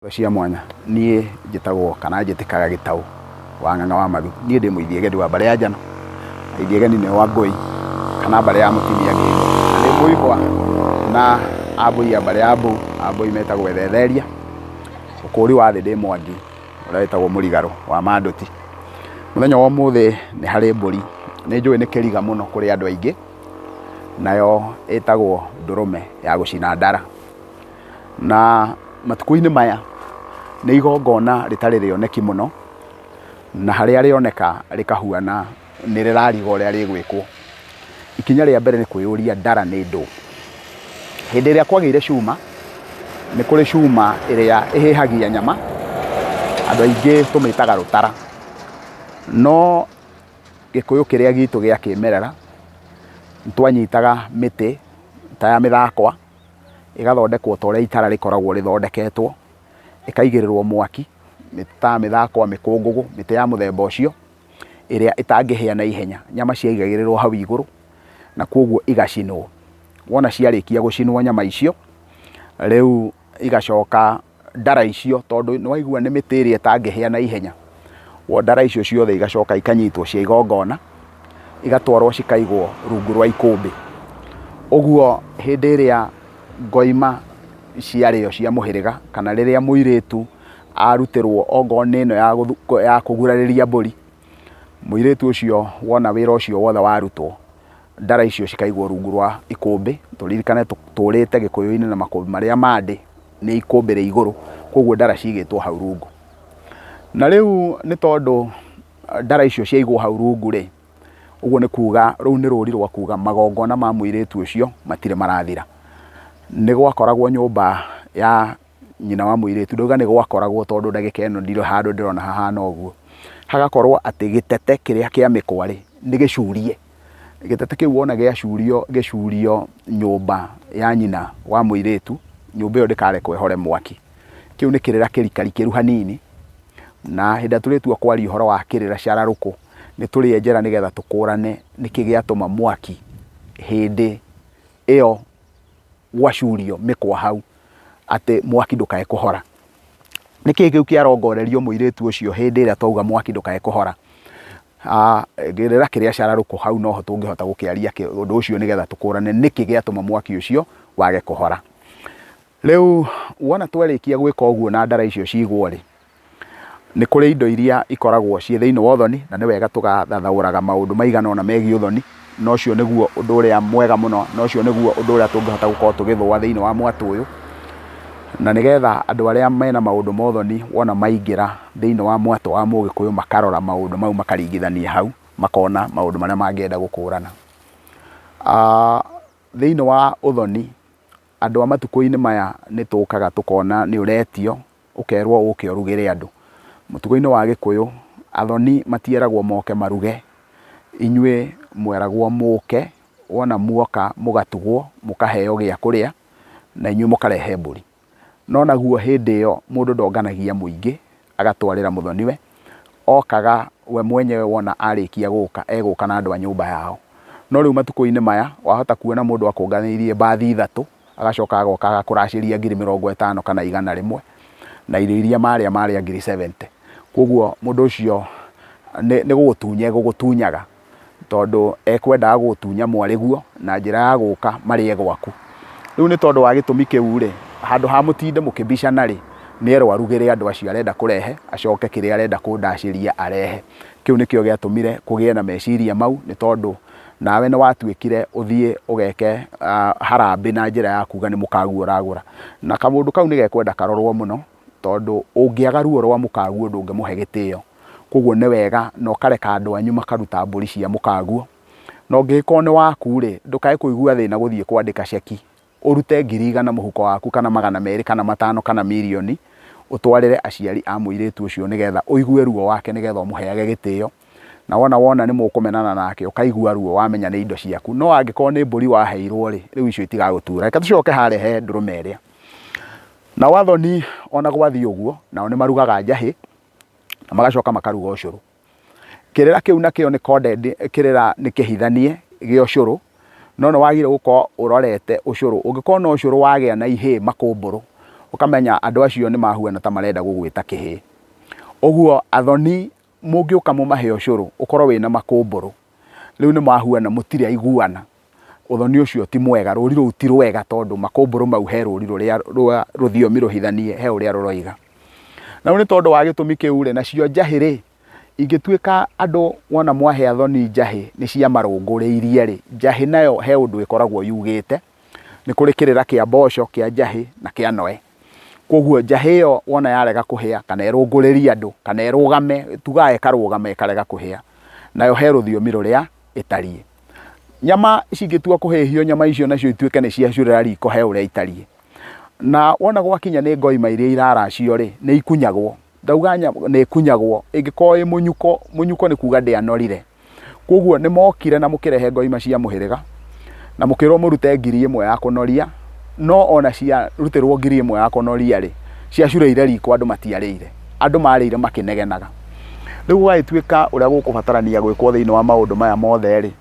Indo cia mwanya. Niĩ njĩtagwo kana njĩtĩkaga Gĩtaũ wa Ng'ang'a wa Mathu. Niĩ ndĩ Mũithiegendi wa mbarĩ ya Njano. Mũithiegendi nĩ wa Ngũi kana mbarĩ ya Mũtumia Ngĩgĩ. Ndĩ Mũihwa na Ambũi a mbarĩ ya Mbũu. Ambũi metagwo Ethetheria. Ũkũũri wa thĩ ndĩ Mwangi ũrĩa wĩtagwo Mũrigarũ wa Manduti. Mũthenya wa ũmũthĩ nĩ harĩ mbũri nĩ njũĩ nĩ kĩriga mũno kũrĩ andũ aingĩ nayo ĩtagwo Ndũrũme ya gũcina ndara. Na matukũ-inĩ maya nĩ igongona rĩtarĩ rĩoneki mũno, na harĩa rĩoneka rĩkahuana nĩ rĩrariga ũrĩa rĩgwĩkwo. Ikinya rĩa mbere nĩ kwĩyũria ndara nĩ ndũũ? Hĩndĩ ĩrĩa kwagĩire cuma, nĩ kũrĩ cuma ĩrĩa ĩhĩhagia nyama, andũ aingĩ tũmĩtaga rũtara. No gĩkũyũ kĩrĩa gitũ gĩa kĩmerera, nĩ twanyitaga mĩtĩ ta ya mĩthakwa. ĩgathondekwo ta ũrĩa itara rĩkoragwo rĩthondeketwo, ĩkaigĩrĩrwo mwaki, ta mĩthakwa, mĩkũngũgũ, mĩtĩ ya mũthemba ũcio, ĩrĩa ĩtangĩhĩa na ihenya. Nyama ciaigagĩrĩrwo hau igũrũ, na kwoguo igacinwo. Wona ciarĩkia gũcinwo nyama icio, rĩu igacoka ndara icio tondũ nĩ waigua nĩ mĩtĩ ĩrĩa ĩtangĩhĩa na ihenya, ndara icio ciothe igacoka ikanyitwo cia igongona, igatwarwo cikaigwo rungu rwa ikũmbĩ. Ũguo hĩndĩ ĩrĩa ngoima ciarĩo cia mũhĩrĩga, kana rĩrĩa mũirĩtu arutĩrwo okorwo nĩ ĩno ya kũgurarĩria mbũri, mũirĩtu ũcio wona wĩra ũcio wothe warutwo, ndara icio cikaigwo rungu rwa ikũmbĩ, tũririkane tũũrĩte gĩkũyũ-inĩ na makũmbĩ marĩa ma ndĩ. nĩ ikũmbĩ rĩ igũrũ, koguo ndara cigĩtwo hau rungu. Na rĩu nĩ tondũ ndara icio ciaigwo hau rungu rĩ, ũguo nĩ kuga rũu nĩ rũri rwa kuga magongona ma mũirĩtu ũcio matirĩ marathira. Nĩ gwakoragwo nyũmba ya nyina wa mũirĩtu, ndauga nĩ gwakoragwo tondũ ndagĩka ĩno ndirĩ handũ ndĩrona hahana ũguo, hagakorwo atĩ gĩtete kĩrĩa kĩa mĩkwa rĩ, nĩ gĩcurie. gĩtete kĩu wona gĩacurio gĩcurio nyũmba ya nyina wa mũirĩtu nyũmba ĩyo ndĩkarekwo ĩhore mwaki kĩu nĩ kĩrĩra kĩrikari kĩru hanini na hĩndĩ ĩrĩa tũrĩtua kwaria ũhoro wa kĩrĩra cararũkũ nĩ tũrĩe njĩra nĩgetha tũkũrane nĩkĩ gĩatũma mwaki hĩndĩ ĩyo gwacurio mĩkwa hau atĩ mwaki ndũkae kũhora nĩkĩ kĩu kĩarongorerio mũirĩtu ũcio hĩndĩ ĩrĩa twauga mwaki ndũkae kũhora A, Rĩera kĩrĩa cararũkũ hau no ho tũngĩhota gũkĩaria ũndũ ũcio nĩgetha tũkũrane nĩkĩ gĩatũma mwaki ũcio wage kũhora. Rĩu wona twarĩkia gwĩka ũguo na ndara icio cigwo-rĩ, nĩ kũrĩ indo iria ikoragwo ciĩ thĩinĩ wa ũthoni na nĩ wega tũgathathaũraga maũndũ maigana ũna megiĩ ũthoni na ũcio nĩguo ũndũ ũrĩa mwega mũno, na ũcio nĩguo ũndũ ũrĩa tũngĩhota gũkorwo tũgĩthũa thĩinĩ wa mwatũ ũyũ, na nĩgetha andũ arĩa mena maũndũ ma ũthoni wona maingĩra thĩinĩ wa mwatũ wa mũgĩkũyũ makarora maũndũ mau makaringithania hau, makona maũndũ marĩa mangĩenda gũkũrana. Thĩinĩ wa ũthoni, andũ a matukũ-inĩ maya nĩ tũkaga tũkona nĩ ũretio, ũkerwo ũke ũrugĩre andũ. Mũtugo-inĩ wa gĩkũyũ, athoni matieragwo moke maruge, inyuĩ mweragwo mũke, wona muoka mũgatugwo, mũkaheo gĩa kũrĩa, na inyuĩ mũkarehe mbũri. No naguo hĩndĩ ĩyo mũndũ ndonganagia mũingĩ agatwarĩra mũthoni-we, okaga we mwenyewe wona arĩkia gũka, egũka na andũ a nyũmba yao. No rĩu matukũ-inĩ maya, wahota kuona mũndũ akũnganĩirie mbathi ithatũ, agacoka agoka agakũracĩria ngiri mĩrongo ĩtano kana igana rĩmwe, na irio iria marĩa marĩa ngiri seventy. Koguo mũndũ ũcio nĩ gũgũtunya egũgũtunyaga, tondũ ekwendaga gũgũtunya mwarĩguo na njĩra ya gũka marĩe gwaku. Rĩu nĩ tondũ wa gĩtũmi kĩu rĩ, handũ ha mũtinde mũkĩbicana rĩ, nĩ erwo arugĩre andũ acio arenda kũrehe, acoke kĩrĩa arenda kũndacĩria arehe. Kĩu nĩkĩo gĩatũmire kũgĩe na meciria mau, nĩ tondũ nawe nĩ watuĩkire ũthiĩ ũgeke harambĩ na njĩra ya kuga nĩ mũkagu ũragũra. Na kamũndũ kau nĩ gekwenda karorwo mũno tondũ ũngĩaga ruo rwa mũkaguo ndũngĩmũhe gĩtĩo. Kwoguo nĩ wega na ũkareka andũ anyu makaruta mbũri cia mũkaguo. Na ũngĩgĩkorwo nĩ waku rĩ, ndũkae kũigua thĩna gũthiĩ kwandĩka ceki. Ũrute ngiri igana mũhuko waku, kana magana merĩ, kana matano, kana mirioni, ũtwarĩre aciari a mũirĩtu ũcio, nĩ geetha ũigue ruo wake, nĩ geetha ũmũheage gĩtĩo. Na wona wona nĩ mũkũmenana nake, ũkaigua ruo, wamenya nĩ indo ciaku. No angĩkorwo nĩ mbũri waheirwo-rĩ, rĩu icio itigagũtuura. Reke tũcoke harĩa he ndũrũme ĩrĩa. Nao athoni o na gwathiĩ ũguo, nao nĩ marugaga njahĩ, na magacoka makaruga ũcũrũ. Kĩrĩra kĩu nakĩo nĩ condemned, kĩrĩra nĩ kĩhithanie gĩa ũcũrũ, no nĩ wagĩrĩirwo gũkorwo ũrorete ũcũrũ. Ũngĩkorwo no ũcũrũ wagĩa na ihĩĩ makũmbũrũ, ũkamenya andũ acio nĩ mahuana ta marenda gũgwĩta kĩhĩĩ. Ũguo athoni mũngĩũka mũmahe ũcũrũ ũkorwo wĩna makũmbũrũ, rĩu nĩ mahuana mũtirĩ aiguana. Ũthoni ũcio ti mwega, rũũri rũu ti rwega tondũ makũmbũrũ mau he rũũri rũrĩa rwa rũthiomi rũhithanie he ũrĩa rũroiga. Na rĩu nĩ tondũ wa gĩtũmi kĩu rĩ, nacio njahĩ rĩ, ingĩtuĩka andũ wona mwahe athoni njahĩ nĩ ciamarũngũrĩirie rĩ, njahĩ nayo he ũndũ ĩkoragwo yugĩte, nĩ kũrĩ kĩrĩra kĩa mboco, kĩa njahĩ na kĩa noe. Koguo njahĩ ĩyo wona yarega kũhĩa kana ĩrũngũrĩrie andũ kana ĩrũgame, tugaga ĩkarũgama ĩkarega kũhĩa, nayo he rũthiomi rũrĩa ĩtariĩ. Nyama cingĩtua kũhĩhio nyama icio nacio ituĩke nĩ ciacurĩra riko he ũrĩa itariĩ. Na wona gwakinya nĩ ngoima iria iraracio rĩ, nĩ ikunyagwo. Ndauga nyamũ nĩ ĩkunyagwo, ĩngĩkorwo ĩ mũnyuko, mũnyuko nĩ kuga ndĩanorire. Koguo nĩ mokire na mũkĩrehe ngoima cia mũhĩrĩga, na mũkĩrwo mũrute ngiri ĩmwe ya kũnoria, no ona ciarutĩrwo ngiri ĩmwe ya kũnoria-rĩ, ciacurĩire riko andũ matiarĩire. Andũ marĩire makĩnegenaga. Rĩu gũgagĩtuĩka ũrĩa gũkũbatarania gwĩkwo thĩiniĩ wa maũndũ maya mothe-rĩ,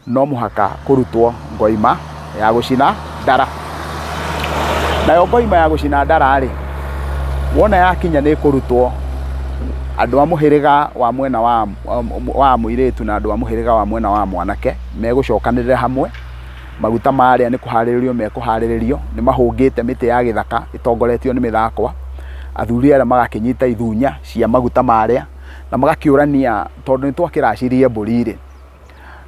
no mũhaka kũrutwo ngoima ya gũcina ndara. Nayo ngoima ya gũcina ndara-rĩ, wona yakinya nĩ ĩkũrutwo andũ a mũhĩrĩga wa mwena wa wa mũirĩtu na andũ a mũhĩrĩga wa mwena wa mwanake megũcokanĩrĩra hamwe, maguta marĩa nĩ kũharĩrĩrio mekũharĩrĩrio, nĩ mahũngĩte mĩtĩ ya gĩthaka ĩtongoretio nĩ mĩthakwa, athuri arĩa magakĩnyita ithunya cia maguta marĩa, na magakĩũrania tondũ nĩ twakĩracirie mbũri-rĩ.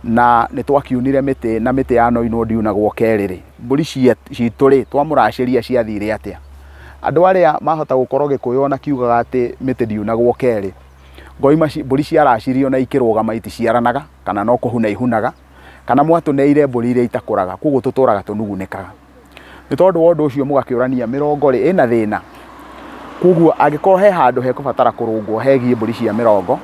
na nĩ twakiunire mĩtĩ na mĩtĩ ya noinwo ndiunagwo kerĩ-rĩ, mbũri citũ-rĩ, twamũracĩria ciathire atĩa? Andũ arĩa mahota gũkorwo Gĩkũyũ ona kiugaga atĩ mĩtĩ ndiunagwo kerĩ, ngoima mbũri ciaracirio na ikĩrũgama iticiaranaga kana no kũhuna ihunaga, kana mwatũneire mbũri iria itakũraga, koguo tũtũraga tũnugunĩkaga. Nĩ tondũ wa ũndũ ũcio mũgakĩũrania, mĩrongo-rĩ, ĩna thĩna? Kũguo angĩkorwo he handũ hekũbatara kũrũngwo hegiĩ mbũri cia mĩrongo,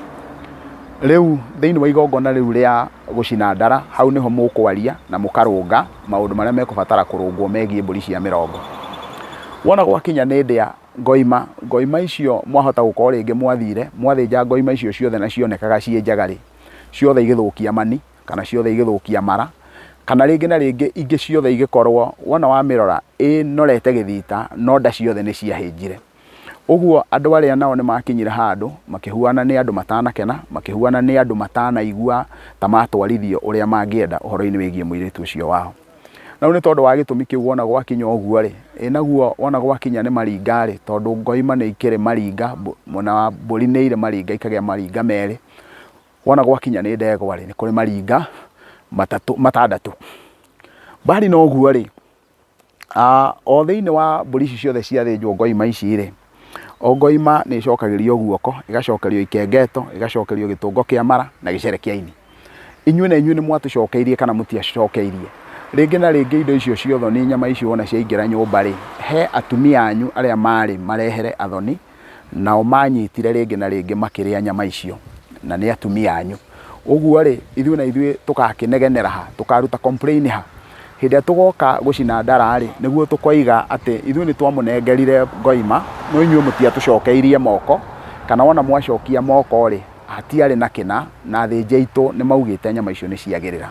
rĩu thĩinĩ wa igongona rĩu rĩa gũcina ndara, hau nĩho mũkwaria na mũkarũnga maũndũ marĩa mekũbatara kũrũngwo megiĩ mbũri cia mĩrongo. Wona gwakinya nĩ ndĩa, ngoima, ngoima icio mwahota gũkorwo rĩngĩ mwathire, mwathĩnja ngoima icio ciothe na cionekaga ciĩ njega-rĩ, ciothe igĩthũkia mani. kana ciothe igĩthũkia mara, kana rĩngĩ na rĩngĩ ingĩ ciothe igĩkorwo wona wamĩrora ĩnorete gĩthita no nda ciothe nĩ ciahĩnjire. Ũguo andũ arĩa nao nĩ makinyire handũ makĩhuana nĩ andũ matanakena, makĩhuana nĩ andũ matanaigua ta matwarithio ũrĩa mangĩenda ũhoro-inĩ wĩgiĩ mũirĩtu ũcio wao. Na rĩu nĩ tondũ wa gĩtũmi kĩu wona gwakinya ũguo rĩ, ĩ naguo wona gwakinya nĩ maringa rĩ, tondũ ngoima nĩ ikĩrĩ maringa, mwena wa mbũri nĩ irĩ maringa ikagĩa maringa merĩ, Wona gwakinya nĩ ndegwa-rĩ, nĩ kũrĩ maringa matatũ, matandatũ. Mbali na ũguo-rĩ, o thĩiniĩ wa mbũri ici ciothe ciathĩnjwo ngoima ici-rĩ, o ngoima nĩ ĩcokagĩrio guoko, ĩgacokerio ikengeto, ĩgacokerio gĩtũngo kĩa mara na gĩcere kĩa ini. Inyuĩ na inyuĩ nĩ mwatũcokeirie kana mũtiacokeirie. Rĩngĩ na rĩngĩ indo icio cia ũthoni, nyama icio wona ciaingĩra nyũmba-rĩ, he atumia anyu arĩa marĩ marehere athoni nao manyitire rĩngĩ na rĩngĩ makĩrĩa nyama icio, na nĩ atumia anyu. Ũguo-rĩ, ithuĩ na ithuĩ tũgakĩnegenera ha? Tũkaruta complain ha? Hĩndĩ ĩrĩa tũgoka gũcina ndara-rĩ, nĩguo tũkoiga atĩ ithuĩ nĩ twamũnengerire ngoima, no inyuĩ mũtiatũcokeirie moko, kana wona mwacokia moko-rĩ, hatiarĩ na kĩna, na athĩnji aitũ nĩ maugĩte nyama icio nĩ ciagĩrĩra.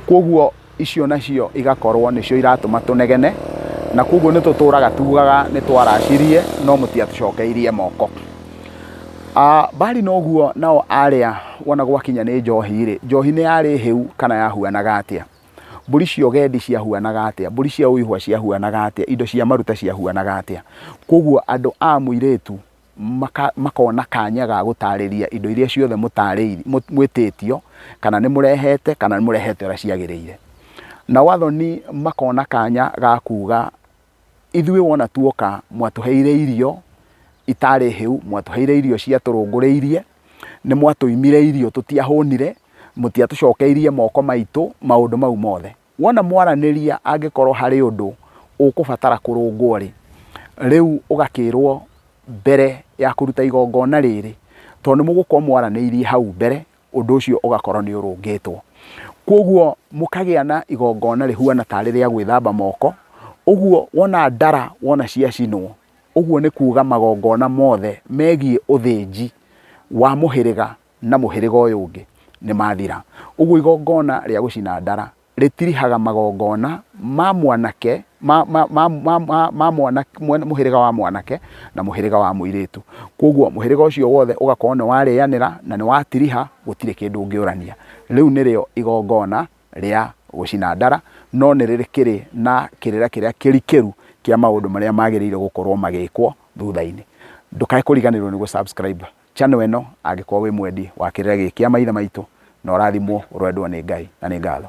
Kũoguo... icio nacio igakorwo nĩcio iratũma tũnegene, na koguo nĩ tũtũraga tugaga nĩ twaracirie no mũtiatũcokeirie moko. Ah, Mbari noguo nao arĩa wona gwakinya nĩ njohi-rĩ, njohi nĩ yarĩ hĩu kana yahuanaga atĩa? Mbũri cia ũgendi ciahuanaga atĩa? Mbũri cia ũihwa ciahuanaga atĩa? Indo cia maruta ciahuanaga atĩa? Koguo andũ a mũirĩtu maka, makona kanya ga gũtaarĩria indo iria ciothe mũtaarĩiri, mũ, mwĩtĩtio, kana nĩ mũrehete, kana nĩ mũrehete ũrĩa ciagĩrĩire. Nao athoni makona kanya ga kuuga, Ithuĩ wona tuoka, mwatũheire irio itaarĩ hĩu, mwatũheire irio ciatũrũngũrĩirie, nĩ mwatũimire irio tũtiahũnire, mũtiatũcokeirie moko maitũ, maũndũ mau mothe. Wona mwaranĩria angĩkorwo harĩ ũndũ ũkũbatara kũrũngwo-rĩ, rĩu ũgakĩrwo mbere ya kũruta igongona rĩrĩ, tondũ nĩ mũgũkorwo mwaranĩirie hau mbere, ũndũ ũcio ũgakorwo nĩ ũrũngĩtwo. Kwoguo mũkagĩa na igongona rĩhuana tarĩ rĩa gwĩthamba moko, ũguo wona ndara wona ciacinwo, ũguo nĩ kuuga magongona mothe megiĩ ũthĩnji wa mũhĩrĩga. na mũhĩrĩga ũyũ ũngĩ nĩ mathira. Ũguo igongona rĩa gũcina ndara rĩtirihaga magongona ma mwanake ma, ma, ma, ma, ma, ma mwana, mwana, mũhĩrĩga wa mwanake na mũhĩrĩga wa mũirĩtu. Kwoguo mũhĩrĩga ũcio wothe ũgakorwo nĩ warĩanĩra na nĩ watiriha, gũtirĩ kĩndũ ũngĩũrania. Rĩu nĩrĩo igongona rĩa gũcina ndara, no nĩ rĩkĩrĩ na kĩrĩra kĩrĩa kĩrikĩru kĩa maũndũ marĩa magĩrĩire gũkorwo magĩkwo thutha-inĩ. Ndũkae kũriganĩrwo nĩ gũ subscribe Channel ĩno angĩkorwo wĩ mwendi wa kĩrĩra gĩkĩ kĩa maithe maitũ na ũrathimwo ũrwendwo nĩ Ngai na nĩ ngatho.